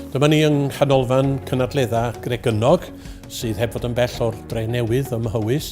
Dyma ni yng Nghanolfan Cynadledda Gregynnog, sydd heb fod yn bell o'r dre newydd ym Mhywys,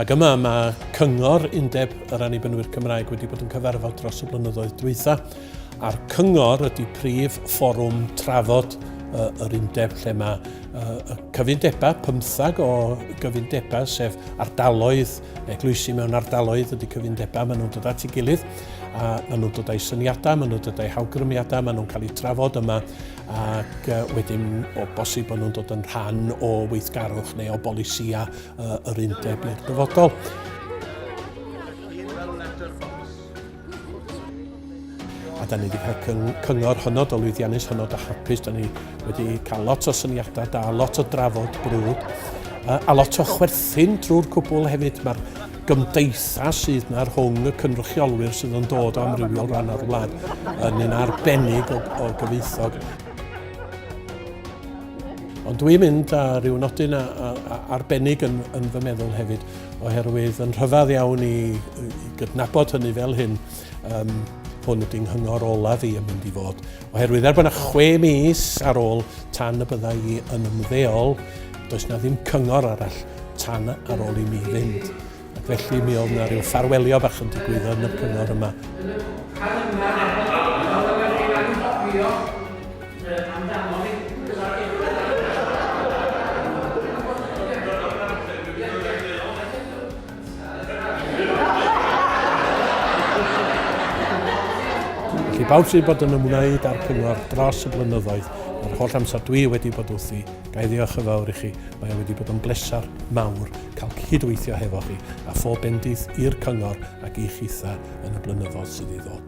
ac yma mae Cyngor Undeb yr Annibynwyr Cymraeg wedi bod yn cyfarfod dros y blynyddoedd dwytha, a'r Cyngor ydy prif fforwm trafod uh, yr undeb lle mae uh, y cyfundebau, pymthag o gyfundebau, sef ardaloedd eglwysi mewn ardaloedd ydy cyfundebau, maen nhw'n dod at ei gilydd a maen nhw'n dod â'i syniadau, maen nhw'n dod â'i hawgrymiadau, maen nhw'n cael eu trafod yma ac wedyn o bosib bod nhw'n dod yn rhan o weithgarwch neu o bolisia yr undeb i'r dyfodol. A da ni wedi cael cyng cyngor hynod o lwyddiannus, hynod o hapus. Da ni wedi cael lot o syniadau da, lot o drafod brwd, a, a lot o chwerthin drwy'r cwbl hefyd. Mae'r gymdeithas sydd yna rhwng y cynrychiolwyr sydd yn dod o amrywiol ran o'r wlad yn un arbennig o, o gyfeithog. Ond dwi'n mynd â rhyw nodyn arbennig yn, yn fy meddwl hefyd. Oherwydd yn rhyfedd iawn i, i gydnabod hynny fel hyn, um, hwn ydy'n nghyngor olaf i yn mynd i fod. Oherwydd er bod yna chwe mis ar ôl tan y byddai i yn ymddeol, does na ddim cyngor arall tan ar ôl i mi fynd. Ac felly mi oedd yna rhyw ffarwelio bach yn digwydd yn y cyngor yma. Meddwl amdano fi. Fysa fi ddim yn dweud hynny. I bawb sydd wedi bod yn ymwneud â'r Cyngor dros y blynyddoedd, yr holl amser dwi wedi bod wrthi, ga i ddiolch yn fawr i chi. Mae o wedi bod yn bleser mawr cael cyd-weithio hefo chi, a phob bendith i'r Cyngor ac i chitha yn y blynyddoedd sydd i ddod.